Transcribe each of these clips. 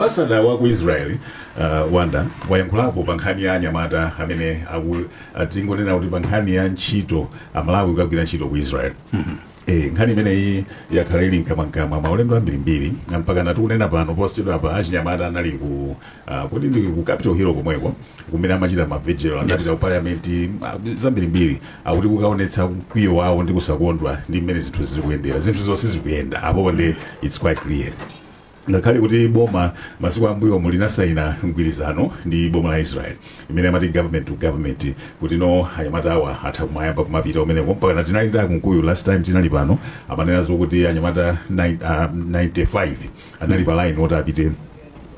Ambasada wa ku Israel Wonder wayankhulapo pa nkhani ya anyamata amene tingonena kuti pa nkhani ya ntchito amalawi kukagwira ntchito ku Israel Eh, nkhani imeneyi yakhala ili mkamwamkamwa maulendo ambirimbiri mpakana tikunena pano posachedwapa achinyamata anali ku ah, kodi ndi ku capital hill komweko kumene amachita mavigil anapita ku parliament ah, zambirimbiri akuti kukaonetsa mkwiyo wawo ndi kusakondwa ndi mmene zinthu zikuyendera zinthu zonse zikuyenda apo it's quite clear Ngakhale kuti boma masiku am'mbuyomu linasaina mgwirizano ndi boma la Israel imene amati government to government kutino anyamatawa athe kumayamba kumapita kumeneko mpakana tinali ndi a Kunkuyu last time tinali pano amanena zokuti anyamata nai- ah, 95 anali pa line oti apite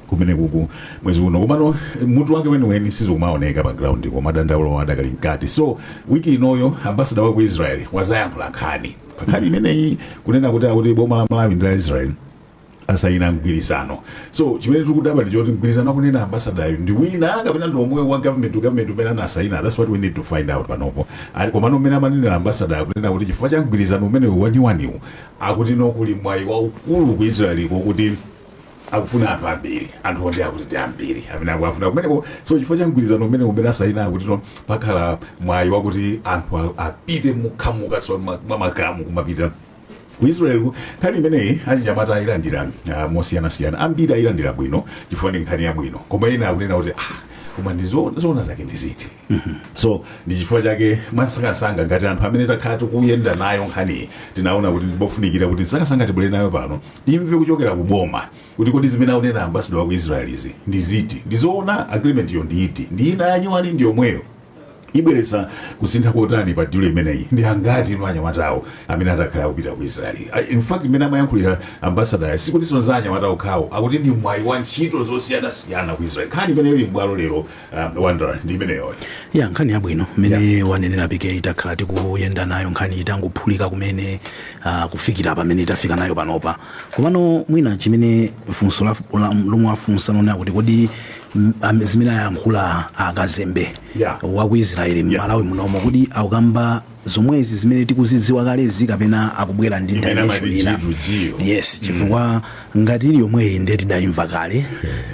kumenekoko mwezi uno komano mutu wake weniweni sizikumaoneka pa ground koma dandaulo lidakali mkati so wiki inoyi ambasada wa ku israel wadzayankhula nkhani pa nkhani imeneyi kunena kuti akuti boma la malawi ndi la israel asayina mgwirizano so chimene tikudabwa ndi choti mgwirizano akunena ambasadayo ndi wina kapena ndi womwe wa government to government umene anasayina that's what we need to find out panopa eti komano mmene amanenera ambasadayo akunena kuti chifukwa cha mgwirizano umenewu wanyuwaniwu akutino kuli mwayi waukulu ku israeliko kuti akufuna anthu ambiri anthu wonder akuti ndi ambiri amene akuafuna kumeneko so chifukwa cha mgwirizano umene umene asayina akutino pakhala mwayi wakuti anthu a- apite mwachikhamu so ma- mwa makhamu kumapita ku israel ku- nkhani imeneyi achinyamata ayilandira ah, mosiyanasiyana ambiri ayilandira bwino chifukwa ndi nkhani yabwino koma ena akunena kuti ah, koma ndi zo- zoona zake ndi ziti so ndi chifukwa chake mwansangansanga ngati anthu amene takhala tikuyenda nayo nkhaniyi tinaona kuti ndipofunikira kuti mwansangansanga tibwere nayo pano timve kuchokera ku boma kuti kodi zimene akunena ambasada wa ku israel izi ndi ziti ndi zoona agreement yo ndi iti ndi ina yanyuwani ndi yomweyo ibweretsa kusintha kotani pa dilu imeneyi ndi angati no anyamatawo amene atakhala akupita ku israeli I- in fact mmene amayankhulira ambasadayo sikutinso za anyamata okhawo akuti ndi mwayi wa ntchito zosiyanasiyana ku israeli nkhani imene ili m'bwalo lero um, wonder ndi imeneyoyo eya nkhani yabwino mmene wanenera pike takhala tikuyenda nayo nkhani itangophulika kumene uh, kufikira pamene itafika nayo panopa komano mwina chimene funso la- la- lomwe afunsano ndi lakuti kodi M- am- zimene ayankhula akazembe Yeah. wa ku israeli mmalawi munomo kuti akukamba zomwezi zimene tikuzidziwa kalezi kapena akubwera ndi Imene dimension amati ina dilu, dilu. yes chifukwa ngati ili yomweyi ndiye tidayimva kale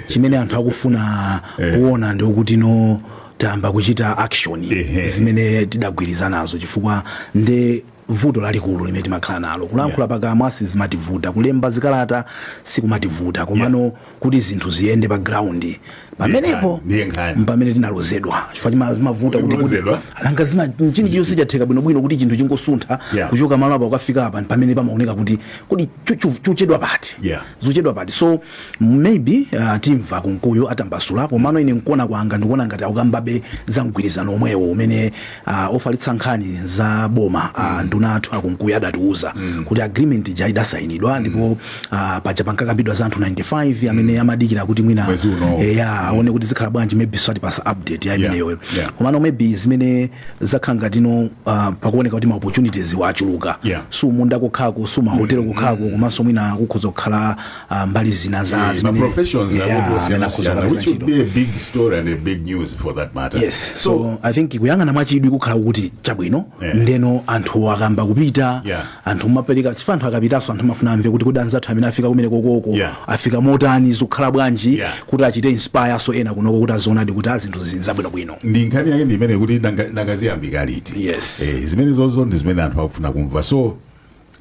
chimene anthu akufuna kuona ndi kutino tayamba kuchita action Ehe. zimene tidagwirizanazo chifukwa nde vuto lalikulu limene timakhala nalo kulankhula pakamwa sizimativuta kulemba zikalata sikumativuta komano kuti zinthu ziyende pa ground pamenepo Ndiye nkhani. mpamene tinalozedwa chifukwa chima- zimavuta kuti kuti Kulozedwa? nanga zimachitika nchani chonse chatheka bwinobwino kuti chinthu chingosuntha Yeah. kuchoka malo apa kukafika apa mpamene pamaoneka kuti kodi chu- chu- chikuchedwa pati Yeah. zikuchedwa pati so May be uh, timva Kunkuyu atambasula komano ine nkuona kwanga ndikuona ngati akukambabe za mgwirizano omwewo umene uh, ofalitsa nkhani za boma uh, nduna athu a Kunkuyu adatiuza kuti agreement ija idasayinidwa ndipo uh, paja pankakambidwa za anthu 95 amene amadikirira kuti mwina Mwezi uno. eh, ya aone kuti zikhala bwanji maybe azatipatsa update ya imeneyo yeah. komano maybe zimene zakhala ngati new uh, pakuoneka kuti ma opportunities achuluka Yeah. si kumunda kokhako si kumahotelo kokhako komanso mwina kukhoza kukhala ah, mbali zina za Eh, zimene- maprofessions Yeah, akuti amene osiyana akhoza siyana kupeza which would ntchito. be a big story and a big news for that matter yes so i think kuyang'ana mwachidwi kukhala kuti chabwino Yeah. ndeno anthu akayamba kupita Yeah. anthu mumapereka chifukwa anthu akapitanso anthu amafuna amve kuti kodi anzathu amene afika kumene kokoko Yeah. afika motani zikukhala bwanji Yeah. kuti achite inspire-nso ena kunoko kuti azionadi kuti ah zinthuzi n'zabwinobwino ndi nkhani yake ndi imene kuti nanga- nangaziyambika liti Yes. eh, zimenezozo ndi zimene anthu akufuna kumva so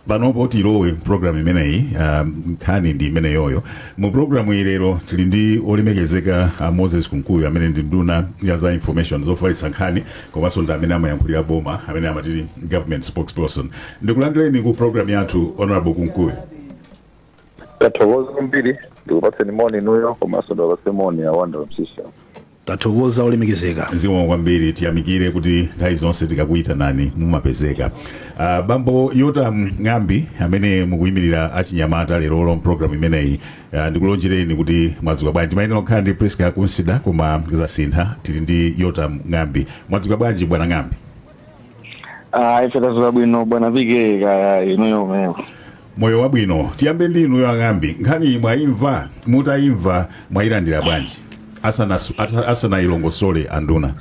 Panopo tilowe program imeneyi um, nkhani ndi imeneyoyo mu program iyi lero tili ndi olemekezeka a Moses Kunkuyu amene ndi nduna ya za information zofalitsa nkhani komanso ndi amene amayankhulira boma amene amati government spokesperson ndikulandireni ku program yathu honorable Kunkuyu tathokoza kwambiri ndikupatseni moni inuyo komanso ndiwapatse moni awanda msisha Tathokoza olemekezeka. Zikomo kwambiri tiyamikire kuti nthawi zonse tikakuyitanani mumapezeka. Ah, Bambo Yotam Ng'ambi amene mukuyimirira achinyamata lerolo mpulogalamu imeneyi ah, ndikulonjereni kuti mwadzuka bwanji mumayenera kukhala ndi Prisca Kunsida koma zasintha tili ndi Yotam Ng'ambi. Mwadzuka bwanji bwana Ng'ambi? Ah, ife tadzuka bwino bwana vike kaya inuyo uli moyo wabwino tiyambe ndi inuyo a Ng'ambi nkhaniyi mwayimva mutayimva mwayilandira bwanji Asanasu- ata- asanayilongosole anduna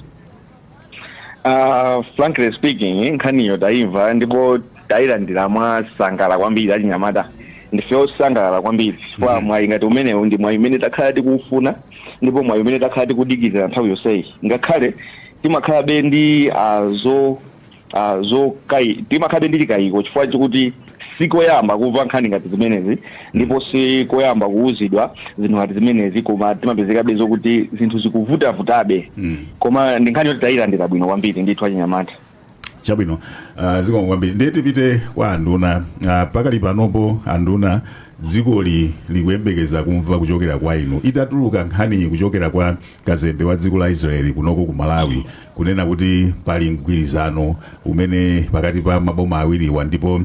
Ah, frankly speaking nkhaniyo tayimva ndipo tayilandira mwansangala kwambiri achinyamata ndife osangalala kwambiri chifukwa mwayi ngati umenewu ndi mwayi umene takhala tikufuna ndipo mwayi umene takhala tikudikirira nthawi yonseyi ngakhale timakhalabe ndi uh, zo uh, zo kai timakhalabe ndi chikayiko chifukwa chakuti sikoyamba kumva nkhani ngati zimenezi ndipo sikoyamba kuwuzidwa zinthu ngati zimenezi koma timapezekabe zokuti zinthu zikuvutavutabe Mm. koma ndi nkhani yoti tayilandira bwino kwambiri ndithu achinyamata chabwino uh, zikomo kwambiri ndiye tipite kwa anduna uh, pakali panopo anduna dzikoli likuyembekeza kumva kuchokera kwa inu itatuluka nkhani kuchokera kwa kazembe wa dziko la israeli kunoko ku malawi kunena kuti pali mgwirizano umenewu pakati pa maboma awiriwa ndipo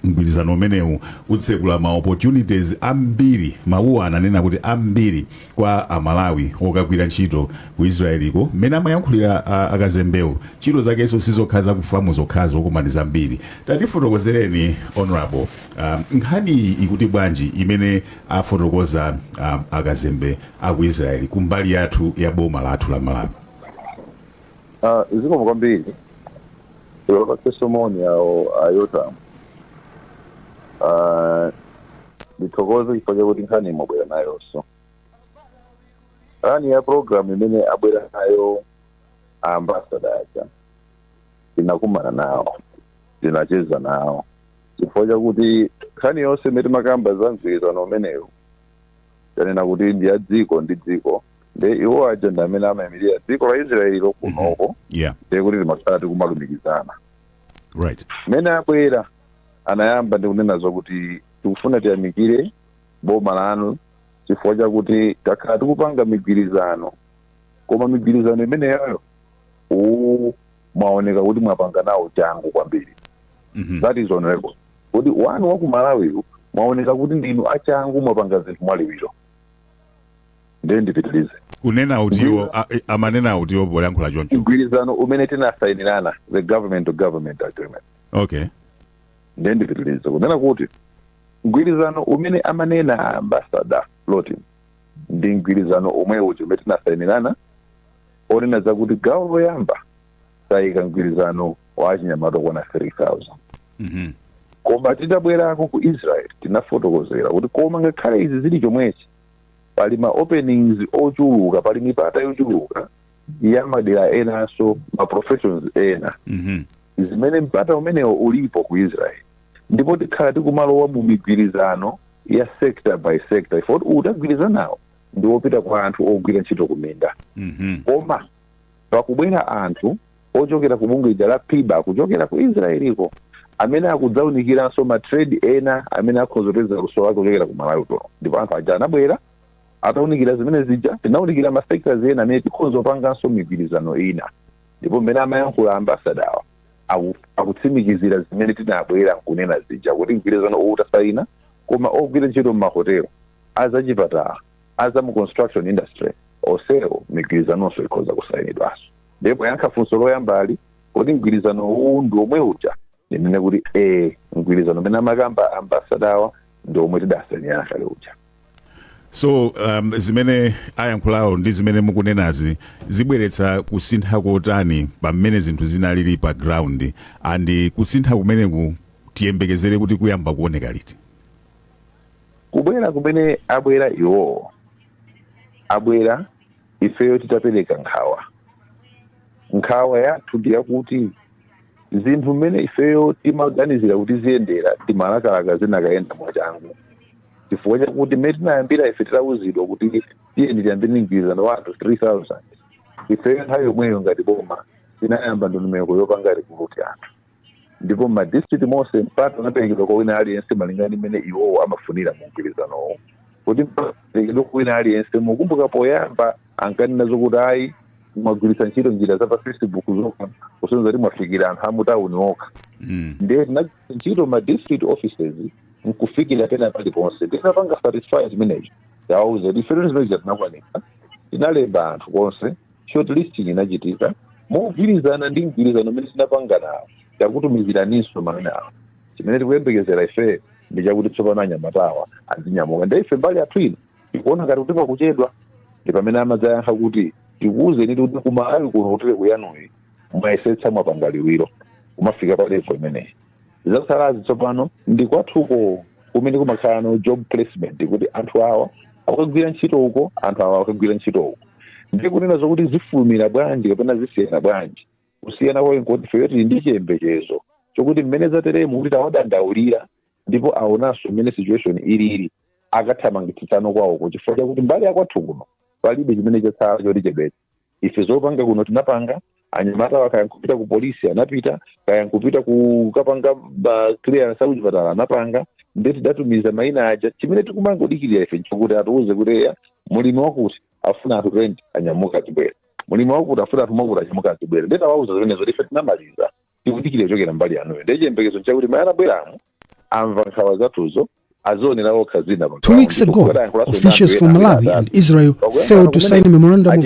mgwirizano umenewu utsekula ma opportunities ambiri mawuwo ananena kuti ambiri kwa amalawi okagwira ntchito ku israeliko mmene amayankhulira a- akazembewo ntchito zakenso sizokha za kufamu zokhazi koma ndi zambiri tatifotokozereni honorable um, nkhani iyi ikuti bwanji imene afotokoza um, akazembe aku israeli kumbali yathu ya boma lathu la malawi Ah, zikomo kwambiri Ndiwapatse moni awo a Yotamu. Ah, ndithokoze chifukwa chakuti nkhaniyi mwabwera nayonso. Nkhani ya programu imene abwera nayo a ambasada aja tinakumana nawo tinacheza nawo chifukwa chakuti nkhani yonse imene timakamba za mgwirizano umenewu tanena kuti ndi ya dziko ndi dziko nde iwo aja ndi amene amayimirira dziko la israeli lokunoko yeah nde kuti timakhala tikumalumikizana right mmene abwera anayamba ndi kunena zokuti tikufuna tiyamikire boma lanu chifukwa chakuti takhala tikupanga migwirizano koma migwirizano imeneyoyo uwu mwaoneka kuti mwapanga nawo changu kwambiri Mhm. that is honorable Kuti wanu wa ku Malawiwu mwaoneka kuti ndinu a changu mwapanga zinthu mwa liwiro. Ndiye ndipitilize. kunena utiwo a- e- amanena utiwo polankhula choncho Mgwirizano umene tinasayinirana the government to government agreement. okay Ndiye ndipitilize kunena kuti mgwirizano umene amanena ambassador Loti ndi mgwirizano omwe uja umene tinasayinirana onena zakuti gawo loyamba tayika mgwirizano wa achinyamata okwana 3000 Mhm. koma titabwerako ku israel tinafotokozera kuti koma ngakhale izi zili chomwechi pali ma openings ochuluka pali mipata yochuluka ya madera enanso ma professions ena Mhm. zimene mpata umenewo ulipo ku israel ndipo tikhala tikumalowa mu migwirizano ya sector by sector ife kuti uwu tagwirizanawu ndi wopita kwa anthu ogwira ntchito kuminda Mhm. koma pakubwera anthu ochokera ku bungwe lija la piba kuchokera ku israeliko amene akudzaunikiranso ma trade ena amene akhoza kupeza luso lake kuchokera ku malawi kuno ndipo anthu aja anabwera ataunikira zimene zija tinaunikira ma sectors ena amene tikhoza kupanganso migwirizano ina ndipo mmene amayankhula ambasadawa aku- akutsimikizira zimene tinabwera nkunena zija kuti mgwirizano uwu tasaina koma ogwira ntchito m'mahotelo azachipatala a za mu construction industry osewo migwirizanonso ikhoza kusainidwanso ndiye poyankha funso loyambalo kodi mgwirizano uwu ndi omwe uja ndinene kuti e mgwirizano umene amakamba ambasadawa ndi omwe tidasainirana kale uja so um, zimene ayankhulawo ndi zimene mukunenazi zibweretsa kusintha kotani pa mmene zinthu zinalili pa ground and kusintha kumeneku tiyembekezere kuti kuyamba kuoneka liti kubwera kumene abwera iwowo abwera ifeyo titapereka nkhawa nkhawa yathu ndi yakuti zinthu mmene ifeyo timaganizira kuti ziyendera timalakalaka zinakayenda mwachangu chifukwa chakuti mmene tinayambira ife titauzidwa kuti tiyeni tiyambe mgwirizano wa anthu 3000 ifeyo nthawi yomweyo ngati boma tinayamba ndondomeko yopanga rikuruti anthu ndipo mma district monse mpata unaperekedwa kwa wina aliyense malinga ndi mmene iwowo amafunira mu mgwirizanowo kuti mpata unaperekedwa kwa wina aliyense mukumbuka poyamba ankanena zokuti ayi mwagwiritsa ntchito njira za pa facebook zokha kusonyeza kuti mwafikira anthu amutawuni okha Mm. ndiye tinagwiritsa ntchito ma district offices nkufikira pena paliponse tinapanga satisfy zimenezo tawauza kuti ife zoti zimenezo tinakwanitsa tinalemba anthu konse shortlisting inachitika mogwirizana ndi mgwirizano umene tinapangana nawo takutumizirani so maina awo chimene tikuyembekezera ife ndi chakuti tsopano anyamatawa azinyamuka nde ife mbali yathu ino tikuona ngati kuti pakuchedwa ndi pamene amadzayankha kuti tikuwuzeni kuti ku Malawi kuno ku level yanuyi mwayesetsa mwapanga liwiro pomafika pa levo imeneyi zatsalazi tsopano ndi kwathuko kumene kumakhalano job placement kuti anthu awa akagwira ntchito uko anthu awa akagwira ntchito uko ndi kunena zokuti zifulumira bwanji kapena zisiyana bwanji kusiyana kwayo nkuti ifeyo tili ndi chiyembekezo chokuti mmene zateremu kuti tawadandaulira ndipo aonanso mmene situation ilili akathamangitsano kwawoko chifukwa chakuti mbali yakwathu kuno palibe chimene chatsala choti chebete ife zopanga kuno tinapanga anyamatawa kaya nkupita ku polisi anapita kaya nkupita kukapanga ma clearance aku chipatala anapanga nde tidatumiza maina aja chimene tikumangodikirira ife nchokuti atiuze kuti eya mulimi wakuti afuna anthu twenty anyamuke azibwera mulimi wakuti afuna anthu mwakuti anyamuke azibwera nde tawauza zimenezo ife tinamaliza tikudikira kuchokera mbali yanuyo ndiye chiyembekezo nchakuti mmene abweramu amva nkhawa zathuzo azionera okha zina pa ground. Kuti adayankhulaso ndi anthu ena atatu. Pakuyankhula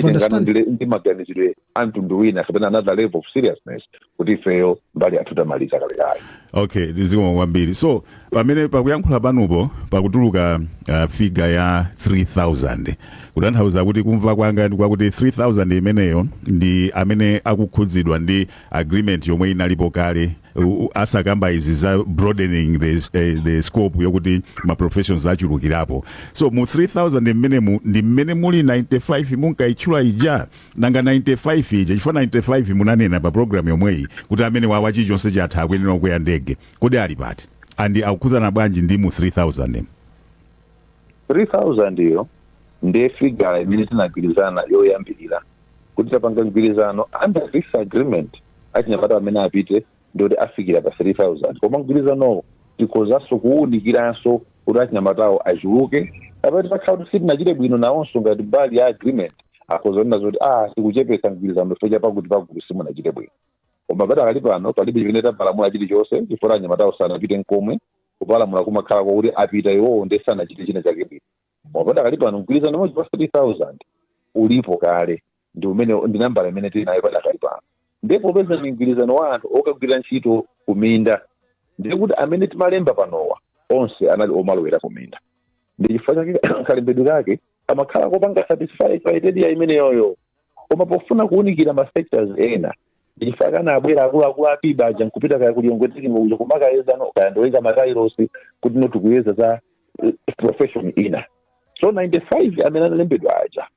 kumene achitengano ndi- ndi maganizidwe a mtundu wina kapena another level of seriousness kuti ifeyo mbali yathu tamaliza kalekale okay zikomo kwambiri so pamene pakuyankhula panupo pakutuluka uh, figa ya 3000 kutanthauza kuti kumva kwanga ndi kwakuti 3000 imeneyo ndi amene akukhudzidwa ndi agreement yomwe inalipo kale u- u- asakamba izi za broadening the, eh, the scope yokuti ma professions achulukirapo so mu 3000 mmenemu ndi mmene muli 95 munkayitchula ija nanga 95 ija chifukwa 95 munanena pa program yomweyi kuti amene wawa chilichonse chatha akuyenera kukwera ndege kodi ali pati ndi akukhudzana bwanji ndi mu 3000 3000 iyo ndiye figure imene tinagwirizana yoyambirira kuti tapanga mgwirizano under this agreement achinyamata amene apite ndikuti afikire pa 3000 koma mgwirizanowo tikhozanso kuwunikiranso kuti achinyamatawo achuluke kapena titakhala kuti sitinachite bwino nawonso ngati mbali ya agreement akhoza kunena zoti ah tikuchepetsa mgwirizano chifukwa cha pakuti pakuti simunachite bwino koma padakali pano palibe chimene tapalamula chilichonse chifukwa anyamatawo sanapite nkomwe kupalamula kumakhala kwakuti apita iwowo ndi sanachite china chake bwino koma padakali pano mgwirizano umodzi wa 3000 ulipo kale ndi imene ndi nambala imene tili nayo padakali pano ndipo popeza ndi mgwirizano wa anthu okagwira ntchito kuminda ndiye kuti amene timalemba panowa onse anali omalowera kuminda ndi chifukwa chake kalembedwe kake kamakhala kopanga satisfy criteria imeneyoyo koma pofuna kuunikira ma sectors ena chifukwa akanabwera akuluakulu apiba aja nkupita kaya ku Lilongwe technical uja kumakayeza no kaya ndoyeza matailosi kuti no tikuyeza za eh, profession ina so 95 amene analembedwa aja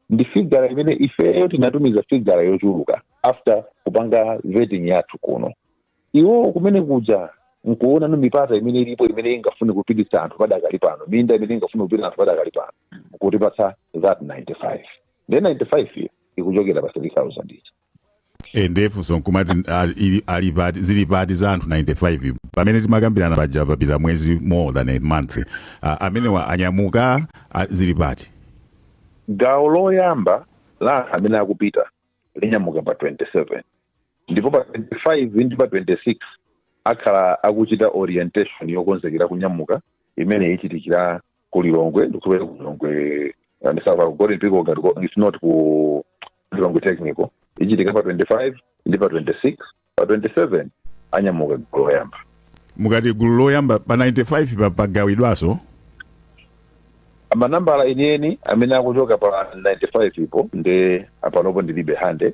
ndi figara imene ifeyo tinatumiza figara yochuluka after kupanga vetting yathu kuno iwo kumene kuja nkuona no mipata imene ilipo imene ingafune kupititsa anthu padakali pano minda imene ingafune kupititsa anthu padakali pano kutipatsa that 95 then 95 iyo ikuchokera pa 3000 ija eh ndiye funso nkumati ali- ili- ali pati zili pati za anthu 95 pamene timakambirana paja papita mwezi more than a month Ah, amenewa anyamuka ah, zili pati gawo loyamba la anthu amene akupita linyamuka pa 27 ndipo pa 25 ndi pa 26 akhala akuchita orientation yokonzekera kunyamuka imene ichitikira ku lilongwe ndikupita ku lilongwe ndisati ku Golden Peacock ngati ko- it's not ku lilongwe technical ichitika pa 25 ndi pa 26 pa 27 anyamuka gulu loyamba mukati gulu loyamba pa 95 pa- pagawidwanso manambala enieni amene akuchoka pa 95 people ndi apanopo ndilibe handy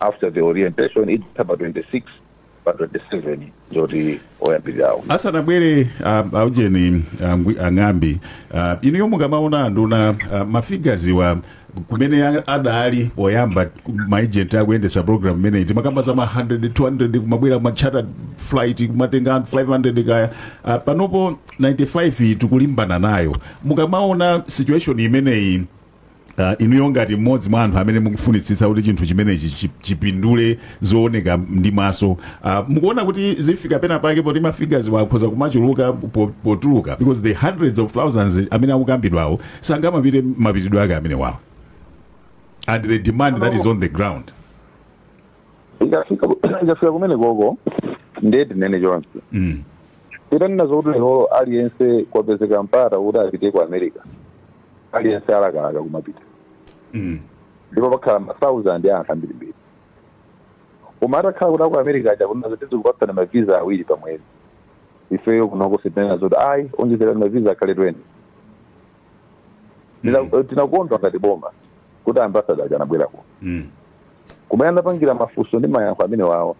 after the orientation itha pa 26 pa 27 ndiyoti oyambirirawo asanabwere um, aujeni um, ngwi- ang'ambi uh, inuyo mukamaona anduna uh, mafigaziwa kumene a- adali oyamba maejenti akuyendesa program imeneyi timakamba za ma 100 200 kumabwera machata flight kumatenga anthu 500 kaya uh, panopo 95 tikulimbana nayo mukamaona situation imeneyi Uh, inuyo ngati mmodzi mwa anthu amene mukufunitsitsa kuti chinthu chimenechi chi- chipindule zooneka ndi maso uh, mukuona kuti zifika pena pake poti mafigures wakhoza kumachuluka po- potuluka because the hundreds of thousands amene akukambidwawo sangamapite mapitidwe ake amenewawo and the demand that is on the ground ikafika ikafika kumene koko ndiye tinene chonchi mm. titanena zokuti lero aliyense kwapezeka mpata kuti apite ku america aliyense alakalaka kumapita Mm. ndipo pakhala masauzandi a anthu ambirimbiri koma atakhala kuti aku america aja kunena zoti tizikupatsani mavisa awiri pa mwezi ifeyo kunoko sitinena zoti ayi onjezerani mavisa akhale 20 Tina- tinakondwa ngati boma kuti ambasada aja anabwera kuno Mm. kumene anapangira mafunso ndi mayankho amenewawo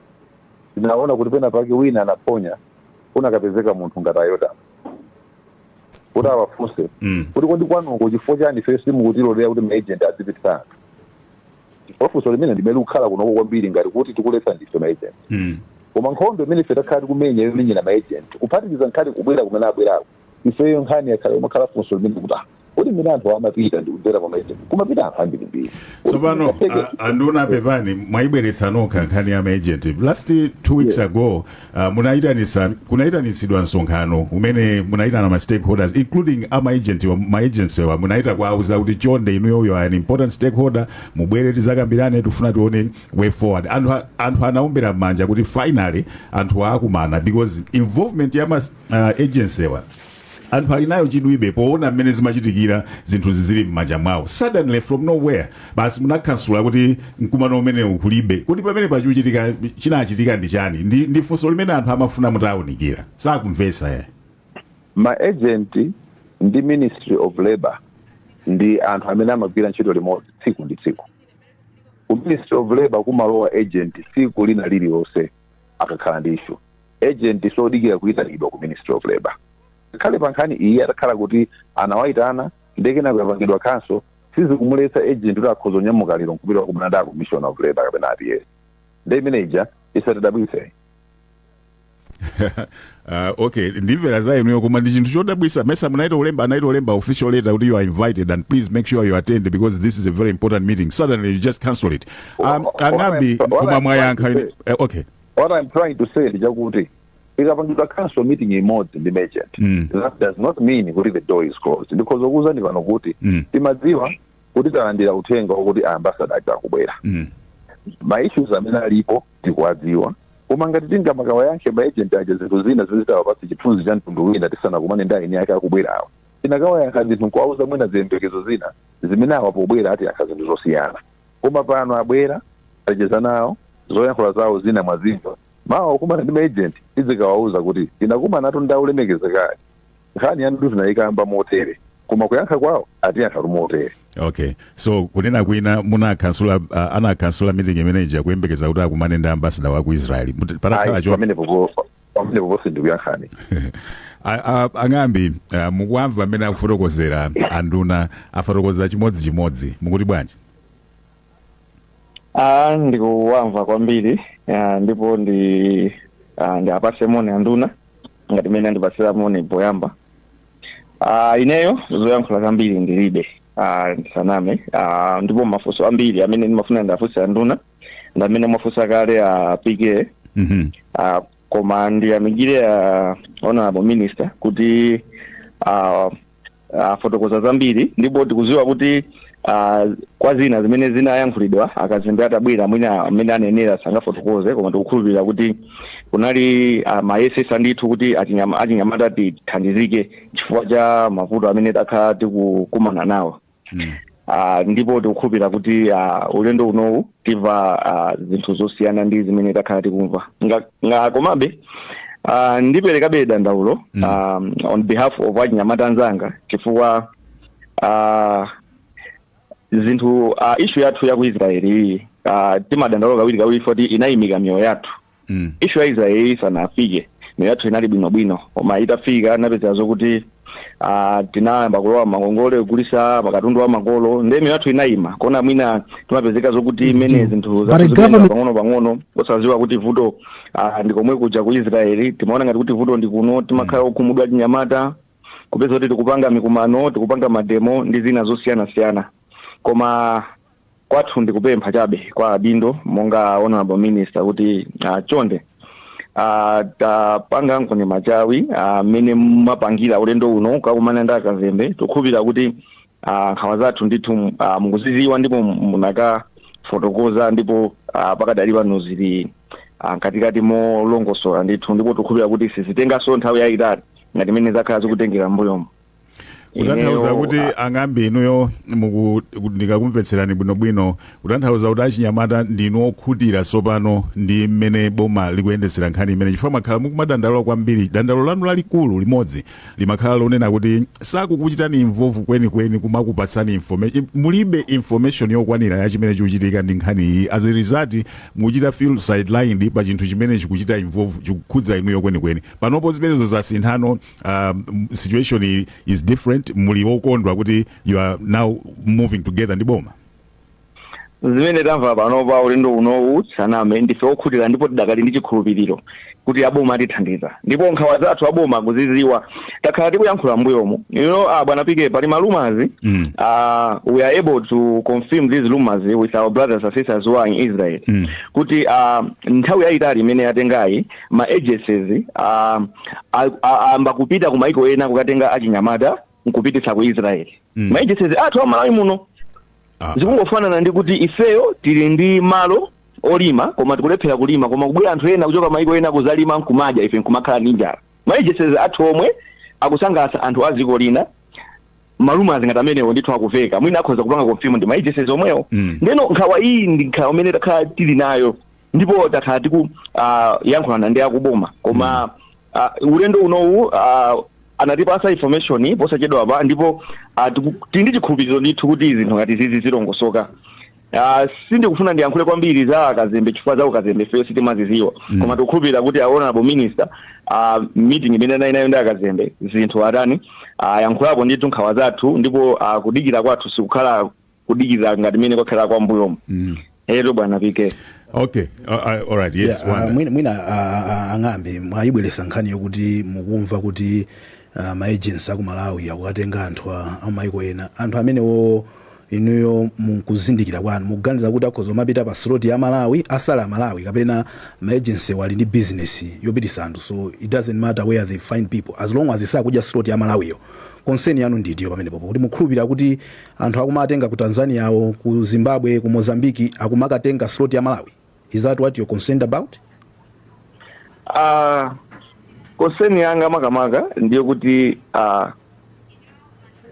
tinaona kuti pena pake wina anaphonya anakapezeka munthu ngati ayota kuti awafunse Mm. kuti kodi kwanuko chifukwa chani ife simukutilolera kuti maagent azipitisa anthu chifukwa funso limeneli ndi limene likukhala kunoko kwambiri ngati kuti tikuletsa ndife maagent Mm. koma nkhondo imene ife takhala tikumenya yomenyera maagent kuphatikiza nkhani kubwera kumene abwerako ifeyo nkhani yakhala yomakhala funso limene kuti ah, kodi mmene anthu awa amapita ndi kudzera kwa maagent kumapita anthu ambirimbiri tsopano a nduna apepani mwayibweretsa nokha nkhani ya maagent last two weeks ago Uh, munayitanisa kunayitanitsidwa msonkhano umene munayitana ma stakeholders including ma agentwa ma agencywa munayita kuwauza kuti chonde inuyo you are an important stakeholder mubwere tizakambirane tifuna tione way forward anthu a- anthu anaombera manja kuti finally anthuwa akumana because involvement ya ma uh, agencywa anthu ali nayo chidwi be poona mmene zimachitikira zinthu zizili m'manja mwawo suddenly from nowhere basi munakhansula kuti mkumano umenewu kulibe kodi pamenepa chikuchitika chinachitika ndi chani ndi, ndi funso limene anthu amafuna mutawunikira sakumvesa ayi ma agent ndi ministry of labor ndi anthu amene amagwira ntchito limodzi tsiku ndi tsiku ku ministry of labor kumalowa agent tsiku lina lililonse akakhala ndi issue agent sodikira kuyitanidwa ku ministry of labor ngakhale pa nkhani iyi atakhala kuti anawayitana nde kenako yapangidwa cancel sizikumuletsa agent kuti akhoza kunyamuka lero nkupita kumana ndi a commissioner of labor kapena a PS nde imene ija isatidabwitse uh, okay ndimvera za inuyo koma ndi chinthu chodabwisa mesa munaita ulemba anaita ulemba official letter kuti you are invited and please make sure you attend because this is a very important meeting suddenly you just cancel it um, Wa- wa- ang'ambi wa- wa- koma mwayankha wa- eh, okay what I'm trying to say ndi chakuti ikapangidwa council meeting imodzi ndi ma agent Mm. that does not mean kuti the door is closed ndikhoza kukuuzani pano kuti Mm. timadziwa kuti talandira uthenga wakuti ambasada aja akubwera Mm. ma issues amene alipo tikuwadziwa koma ngati tingamakawayankhe ma agent aja zinthu zina zimene zitawapatsa chithunzi cha mtundu wina tisanakumane ndi ayini ake akubwerawo tingakawayankhe zinthu nkuwauza mwina ziyembekezo zina zimene awa pobwera atiyankha zinthu zosiyana koma pano abwera tacheza nawo zoyankhula zawo zina mwazimva mawa pokumana ndi maagent tidzikawauza kuti tinakumanatu ndi olemekezekayo nkhani yanu tinaikamba motere koma kuyankha kwawo atiyankha motere okay so kunena kwina munakhansula uh, anakhansula meeting imeneja kuyembekeza kuti akumane ndi ambasada wa ku israeli Muti- patakhala Ayi, cho pamenepo po- pamenepo posi ndikuyankhani A- a- ang'ambi ah, mukuwamva amene akufotokozera anduna afotokoza chimodzi chimodzi mukuti bwanji Ah, ndikuwamva kwambiri ah, ndipo ndi ah, ndiapase moni anduna ngati mmene andipasira moni poyamba ah, ineyo zoyankhula zambiri ndilibe ah, ndisaname ah, ndipo mafunso ambiri amene ndimafuna ndiafunse anduna ndamene mwafunsa kale a pk Mhm. Ah, koma ndiyamikire ah, honorable minister kuti ah, afotokoza zambiri ndipo tikuziwa kuti ah, kwa zina zimene zinayankhulidwa akazembe atabwera mwina mmene anenera sangafotokoze koma tikukhulupirira kuti kuli ah, akuyesesa ndithu kuti achinyama- achinyamata tithandizike chifukwa cha mavuto amene takhala tikukumana nawo mm. Uh, ndipo tikukhulupira kuti uh, ulendo unowu tiva uh, zinthu zosiyana ndi zimene takhala tikumva nga, nga komabe uh, ndiperekabe dandaulo mm. um, on behalf of achinyamata anzanga chifukwa uh, zinthu uh, ishu yathu ya ku israeli iyi uh, timadandaula kawiri kawiri poti inayimika miyoyo yathu mm. ishu ya israeli isanafike miyoyo yathu inali bwinobwino koma itafika tinapezeka zokuti ah, tinayamba kulowa mangongole kugulisa makatundu a makolo nde miyoyo yathu inayima kona mwina timapezeka zokuti mene zinthu But zathu a zikuyenda government- pang'ono pang'ono osaziwa kuti vuto ah, ndi komwe kuja ku israeli timaona ngati kuti vuto ndi kuno timakhala okhumudwa achinyamata kupezeka kuti tikupanga mikumano tikupanga mademo ndi zina zosiyanasiyana koma Kwathu ndi kupempha chabe kwa adindo monga honorable minister kuti uh, chonde uh, tapanganikoni machawi mmene uh, mwapangira ulendo uno kukakumana ndi akazembe tikhulupira kuti uh, nkhawa zathu ndithu uh, mukuziziwa ndipo munakafotokoza ndipo uh, pakadali pano zili uh, katikati molongosola ndithu ndipo tikhulupira kuti sizitenganso nthawi yayitali ngati mmene zakhala zikutengera mbuyomo kutanthauza Ineyo, kuti a- ang'ambi inuyo muku- ndikakumvetserani bwinobwino kutanthauza kuti achinyamata ndinu okhutira tsopano ndi mmene boma likuyendetsera nkhani imene chifukwa mwakhala mukumadandaula kwambiri dandaulo lanu lalikulu limodzi limakhala lonena kuti sakukuchitani involve kwenikweni kumakupatsani information mulibe information yokwanira ya chimene chikuchitika ndi nkhani iyi as a result mukuchita feel sidelined pa chinthu chimene chikuchita involve chikukhudza inuyo kwenikweni panopo zimenezo zasintha um, situation i- is different muli okondwa kuti you are now moving together ndi boma zimene tamva panopa ulendo unowu sitiname ndife okhutira ndipo tidakali ndi chikhulupiriro kuti aboma atithandiza ndipo nkhawa zathu aboma akuziziwa takhala tikuyankhula mbuyomu you know uh, bwana PK pali ma rumors Mm. uh, we are able to confirm these rumors with our brothers and sisters who are in israel Mm. kuti uh, nthawi yayitali imene yatengayi ma agencies uh, ayamba kupita ku maiko ena kukatenga achinyamata nkupititsa ku israel mm. ma agencies athu a malawi muno ah. zikungofanana ndi kuti ifeyo tili ndi malo olima koma tikulephera kulima koma kubwera anthu ena kuchoka maiko ena kuzalima nkumadya ife nkumakhala ndi njala ma agencies athu omwe akusangalatsa anthu a dziko lina ma rumors ngati amenewo ndithu akuveka mwina akhoza kupanga confirm ndi ma agencies omwewo mm. ndeno nkhawa iyi ndi nkhawa imene takhala tili nayo ndipo takhala tikuyankhulana uh, ndi akuboma koma uh, ulendo unowu uh, anatipasa information posachedwa apa ndipo uh, tiku- tili ndi chikhulupiriro ndithu kuti zinthu ngati zizi zilongosoka Uh, sindikufuna ndiyankhule kwambiri za akazembe chifukwa za ukazembe ifeyo sitimaziziwa mm. koma tikukhulupirira kuti a honorable minister uh, meeting imene anali nayo ndi akazembe zinthu ngati izi ayankhulapo uh, ndithu nkhawa zathu ndipo uh, kudikira kwathu sikukhala kudikira ngati mene kwakhala kale mbuyomu mm. ero bwana pk okay uh, uh, all right yes yeah, uh, mwina, mwina uh, uh, a ng'ambi mwayibweresa nkhani yokuti mukumva kuti uh, maagency aku malawi akukatenga anthu amaiko ena anthu amenewo inuyo mukuzindikira kwanu mukuganiza kuti akhoza kumapita pa slot ya malawi asali a malawi kapena maagency wo ali ndi business yopitisa anthu so it doesn't matter where they find people as long as sakudya slot ya malawiyo concern yanu ndi itiyo pamenepopo kuti mukhulupirira kuti Anthu akumakatenga ku Tanzania wo, ku Zimbabwe, ku Mozambique akumakatenga slot ya Malawi? Is that what you're concerned about? Ah, concern yanga makamaka ndiyo kuti ah,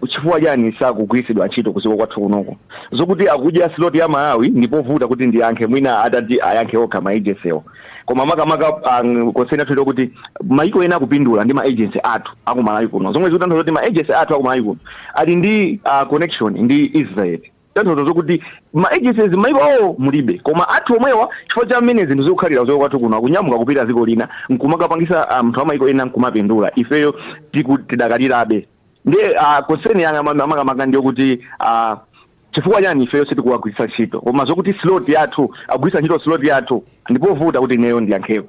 chifukwa chani sakugwiritsidwa ntchito kudziko kwathu kunoko zokuti akudya slot ya malawi ndipovuta kuti ndiyankhe mwina atati ayankhe okha ma agency wo koma makamaka um, konseni yathu ndiyokuti maiko ena akupindula ndi maagency athu akumalawi kuno zomwe zikutanthauza kuti maagency athu akumalawi kuno ali ndi uh, connection ndi israel kutanthauza zokuti maagencies maiko awo mulibe koma athu omwewa chifukwa cha mmene zinthu zikukhalira kuchoka kwathu kuno akunyamuka kupita dziko lina nkumakapangisa ah, mnthu um, amaiko ena nkumapindula ifeyo tiku- tidakalirabe ndi uh, konseni yanga makamaka ndiyokuti uh, Chifukwa chani ifeyo sitikuwagwiritsa ntchito? Koma zakuti slot yathu akugwiritsa ntchito slot yathu ndipovuta kuti ineyo ndiyankheko.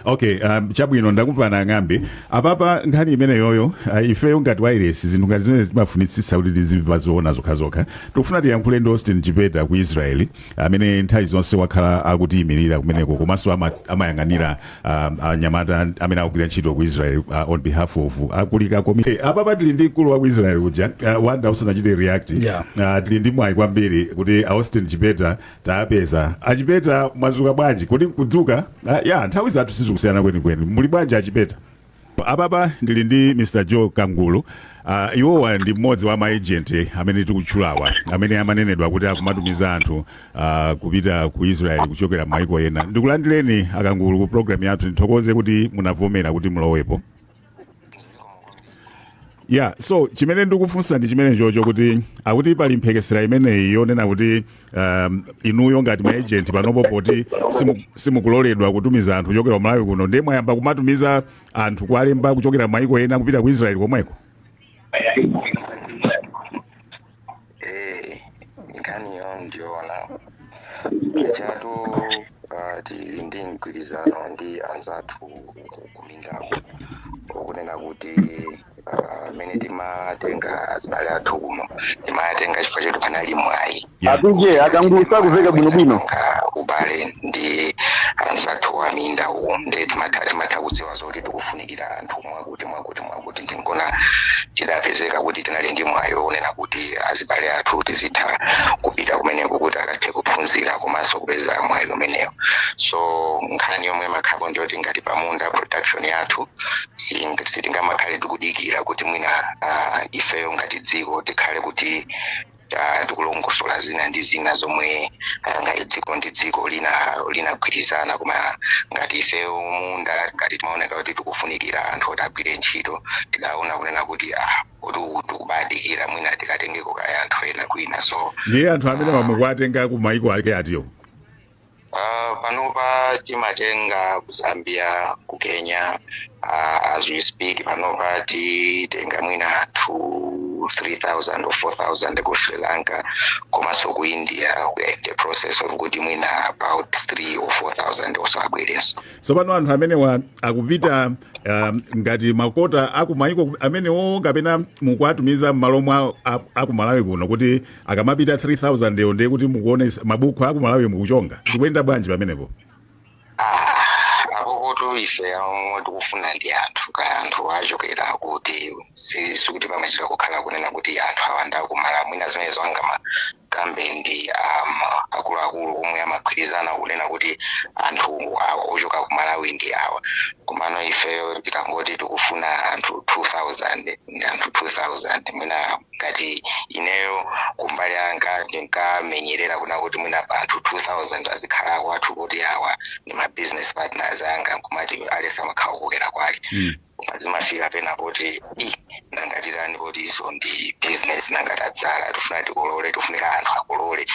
okay um, chabwino ndakumvani ang'ambe apapa nkhani imeneyoyo uh, ifeyo ngati wairesi zinthu ngati zimene timafunitsitsa kuti tizimva zoona zokhazokha tikufuna tiyankhule ndi austin chipeta ku israeli amene nthawi zonse wakhala akutiyimirira kumeneko komanso ama- amayang'anira um, anyamata amene akugwira ntchito ku israel uh, on behalf of akulika komiti hey, apa pa tili ndi mkulu wa ku israel uja uh, wanda usanachite react Yeah. uh, tili ndi mwayi kwambiri kuti austin chipeta tapeza achipeta mwazuka bwanji kodi kudzuka uh, ya nthawi zathu sizikusiyana kwenikweni muli bwanji achipeta Apapa ndili ndi Mr Joe Kangulu, uh, iwowa ndi mmodzi wa maagent amene tikutchulawa amene amanenedwa kuti akumatumiza anthu uh, kupita ku Israel kuchokera maiko ena. Ndikulandireni akangulu ku program yathu, ndithokoze kuti munavomera kuti mulowepo. Yeah, so chimene ndikufunsa ndi chimene chocho kuti akuti pali mphekesera imeneyi yonena kuti um, inuyo ngati ma agent panopo poti simu- simukuloledwa kutumiza anthu kuchokera ku malawi kuno ndiye mwayamba kumatumiza anthu kuwalemba kuchokera maiko ena kupita ku israeli komweko Eh, nkhaniyo ndiyoona chatu ah, tili ndi mgwirizano ndi anzathu ku- kumindaku okunena kuti amene timatenga azibale athu kuno timatenga chifukwa choti panali mwayi apije akangulu sakuveka bwinobwino ka ubale ndi anzathu wa minda uko nde timatha timatha kudziwa zoti tikufunikira anthu mwakuti mwakuti mwakuti ndiye nkuona tidapezeka kuti tinali ndi mwayi wonena kuti azibale athu tizitha kupita kumeneko kuti akathe kuphunzira komanso kupeza mwayi umenewo so nkhani yomwe imakhalapo njoti ngati pamunda production yathu Siting- sitingamakhale tikudikira kuti mwina ah, ifeyo ngati dziko tikhale kuti ah, tikulongosola zina ndi zina zomwe ah, ngati dziko ndi dziko lina linagwirizana koma ngati ifeyo munda ngati timaoneka kuti tikufunikira anthu oti agwire ntchito tidaona kunena kuti ah, kuti uku tikubadikira mwina tikatengeko kaye anthu ena kwina so ndiye anthu amene mukuwatenga ku maiko ake atiwo Uh, panopa timatenga ku zambia ku kenya uh, as we speak panopa titenga mwina anthu 3000 or 4000 ku sri lanka komanso ku india we are in the process of kuti mwina about 3 or 4000 also abwerenso tsopano anthu amenewa akupita um, ngati makota akumayiko amenewo kapena mukuwatumiza m'malo mwa a- akumalawi kuno kuti akamapita 3000 yo ndiye kuti mukuone mabuku aku malawi mukuchonga zikuyenda bwanji pamenepo Ah, apokoto ife omwe tikufuna ndi anthu kaya anthu achokera kuti si- sikuti pamachita kukhala kunena kuti anthu awa nda kumala mwina zimene zowanga makamba ndi um, akuluakulu omwe amagwirizana kunena kuti anthu awa ochoka ku malawi ndi awa komano ifeyo tikangoti tikufuna anthu 2000 anthu 2000 mwina ngati ineyo kumbali yanga ndinkamenyerera kuna kuti mwina pa anthu 2000 azikhala akwathu poti awa ndi ma business partners anga nkumati at least umakhala ukukokera kwako Mm. koma zimafika pena poti i nanga titani poti izo ndi business nanga tadzala tifuna tikolole tifunika anthu akolole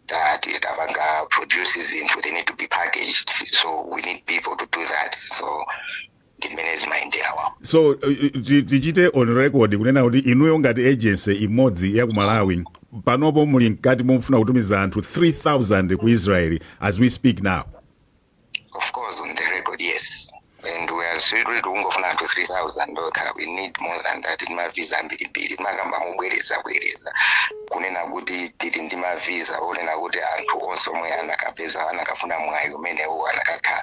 Ta- ti- tapanga produce zinthu they need to be packaged so we need people to do that so ndi mmene zimayendera wawo so uh, uh, ti- tichite on record kunena kuti inuyo ngati agency imodzi ya ku malawi panopo muli mkati mofuna kutumiza anthu 3000 ku israeli as we speak now of course on the record yes and we are seriously tikungofuna anthu 3000 no we need more than that ndi mavisa ambirimbiri timakamba mobwereza bwereza kunena kuti tili ndi mavisa onena kuti anthu onse omwe anakapanda anakafuna mwayi umenewu anakakha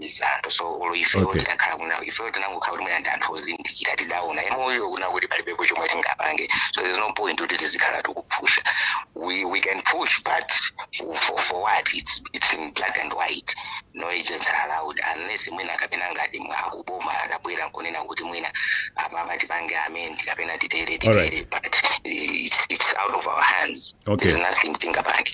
mwa izi anthu so olo ifeyo Okay. tidakhala kunja ifeyo tinangokhala kuti mwina ndi anthu ozindikira tidaona emoyo kuna kuti palibepo chomwe tingapange so there's no point kuti tizikhala tikuphusha we, we can push but for, for, for what it's, it's in black and white no agents are allowed unless mwina kapena ngati akuboma atabwera nkunena kuti mwina apapa tipange amend kapena titere Alright. titere but it's, it's out of our hands Okay. there's nothing tingapange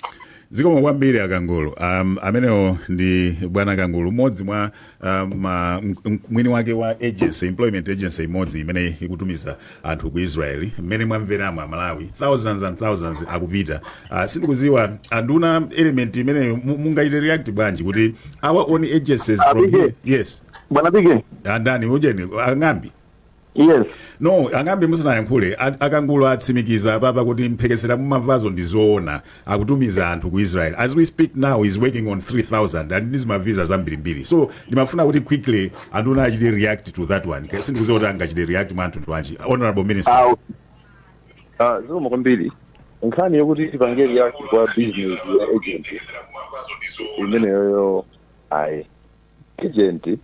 Zikomo kwambiri akangulu. Um, amenewo ndi bwana kangulu mmodzi mwa um, ma, m- m- mwini wake wa agency employment agency imodzi imene ikutumiza anthu ku Israel mmene mwamveramo amalawi thousands and thousands akupita. Uh, sindikudziwa anduna element imeneyo mu- mungaite react bwanji kuti our own agencies from Abige. here yes Bwana Bige, andani ujeni ang'ambi yes no ang'ambi musanayankhule a- akangulo atsimikiza apapa kuti mphekesera mumamvazo ndi zoona akutumiza anthu ku israel as we speak now is working on 3000 and mavisa zambirimbiri so ndimafuna kuti quickly anthu achite react to that one Ke- sindikuziwa kuti angachite react mwa anthu ndwanji honorable minister awo ah, zikomo kwambiri nkhani yokuti tipange react kwa business ya agent imeneyoyo ayi agent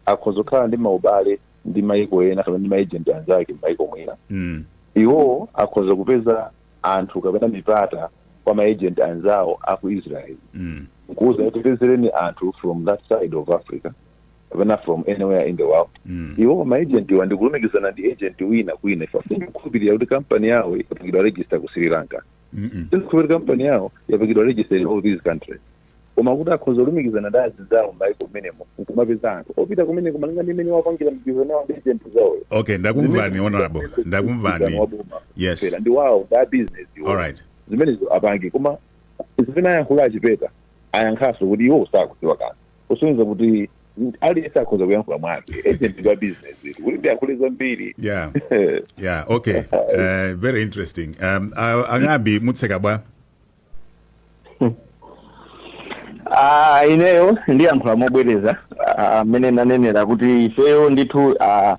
akhoza kukhala ndi maubale ndi maiko ena kapena ndi maejenti anzake m'maiko mwina Mm. iwo akhoza kupeza anthu kapena mipata kwa maejenti anzawo a ku israel Mm. nkuuza kuti tipezereni anthu from that side of africa kapena from anywhere in the world Mm. iwo maejentiwa ndikulumikizana ndi ejenti wina kwina ife sindikukhulupirira kuti kampani yawo yapangidwa register ku sri lanka Mm-mm. sindikukhulupirira kampani yawo yapangidwa register in all these countries koma kuti akhoza kulumikizana ndi azinzawo m'mayiko m'menemo nkumapeza anthu opita kumeneko malinga ndi mmene apangira mgwirizano wawo ndi zinthu zawoyo okay ndakumvani honorable ndakumvani yes Fera, ndi awowo ndi abizinesi all right zimenezo apange koma zimene ayankhula achipeta ayankhanso kuti iwo sakudziwa kanthu kusonyeza kuti aliyense akhoza kuyankhula mwake agent wa bizinesi kuti ndiyankhule zambiri yeah yeah okay uh, very interesting um, uh, ang'ambi mutseka bwa Ah, ineyo ndiyankhula mobwereza ah, mmene nanenera kuti ifeyo ndithu ah,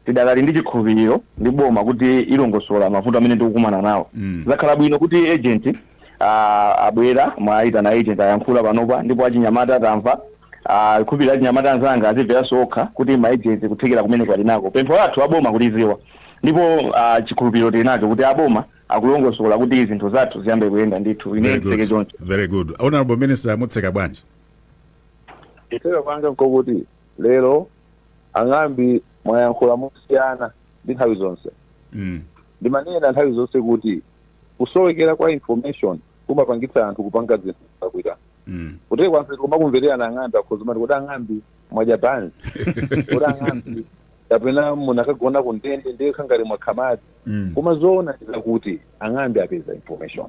tidakali ndi chikhulupiriro ndi boma kuti ilongosola mavuto amene tikukumana nawo Mm. zakhala bwino kuti agent ah, abwera mwaitana agent ayankhula panopa ndipo achinyamata tamva ah, ndikhulupirira achinyamata anzanga azimveranso okha kuti ma agent kuthekera kumene ali nako pempho lathu aboma akuliziwa ndipo ah, chikhulupiriro tili nacho kuti aboma akulongosola kuti zinthu zathu ziyambe kuyenda ndithu ineyo Very nditseke good. choncho Very good. Honorable Minister mutseka bwanji? kutseka kwanga nkokuti lero ang'ambi mwayankhula mosiyana ndi nthawi zonse Mm. ndimanena nthawi zonse kuti kusowekera kwa information kumapangitsa anthu kupanga zinthu zakuita Mm. kutheka kwanse kumakumvetserana ang'ambi akhoza kumati kodi ang'ambi mwadya banzi kodi ang'ambi kapena munakagona ku ndende ndiye mwakhala ngati mwakha madzi Mm. koma zoona zake nzakuti ang'ambi apeza information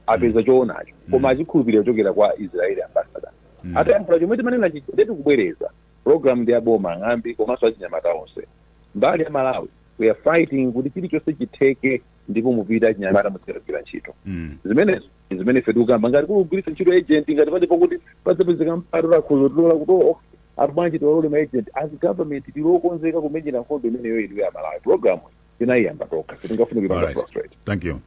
apeza choonacho koma achikhulupirira kuchokera kwa israeli ambassador Mm. atayankhula chomwe timanena chija nde tikubwereza program ndi ya boma ang'ambi komanso achinyamata onse mbali ya Malawi we are fighting kuti chilichonse chitheke ndipo mupita achinyamata muzikagwira ntchito Mm. zimenezo ndi zimene ife tikukamba ngati kugwiritsa ntchito agent ngati palipo kuti padzapezeka mpata lakhuzo tilola kuti oh, Ati bwanji tiwalole ma agent as government tili okonzeka kumenyera nkhondo imeneyo inuyo amalawi programu tinaiyamba tokha sitingafune kuipanga frustrate Thank you.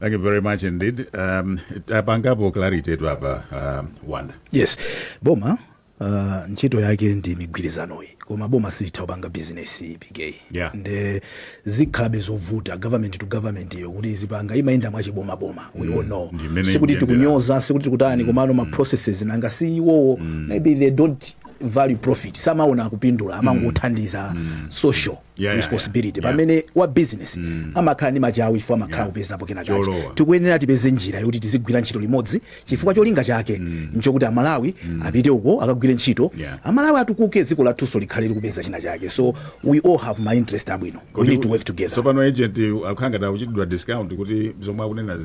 Thank you very much indeed. Um, tapangapo clarity tu apa uh, Wanda. yes boma uh, ntchito yake ndi migwirizanoyi koma boma silitha kupanga bizinesi per se Yeah. nde zikhalabe zovuta government to government yo chifukwa choti izipanga imayenda mwachiboma boma we all know sikuti tikunyoza sikuti tikutani komano ma processes nanga si iwowo maybe they don't value profit samaona kupindula amangothandiza social Yeah, yeah, responsibility yeah. pamene wa business amakhala ndi machawi chifukwa amakhala kupezapo kenakake Cholowa. tikuyenera tipeze njira yoti tizigwira ntchito limodzi chifukwa cholinga chake mm. nchokuti amalawi mm. apite uko akagwire ntchito yeah. amalawi atukuke dziko lathunso likhale likupeza china chake so we all have ma interest abwino we need to work together so pano agent akukhala ngati akuchitidwa discredit kuti zomwe akunena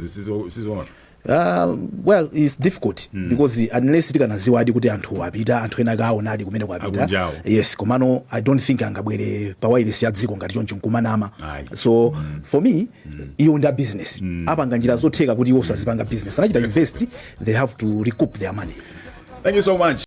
si zoona Uh, well it's difficult mm. because unless tikanadziwadi kuti anthu apita anthu ena akaonadi kumene apita yes komano i don't think angabwere pa wireless ya dziko ngati choncho nkumanama so mm. for me iwo ndi a business apanga njira zotheka kuti iwonso azipanga business anachita invest they have to recoup their money Thank you so much.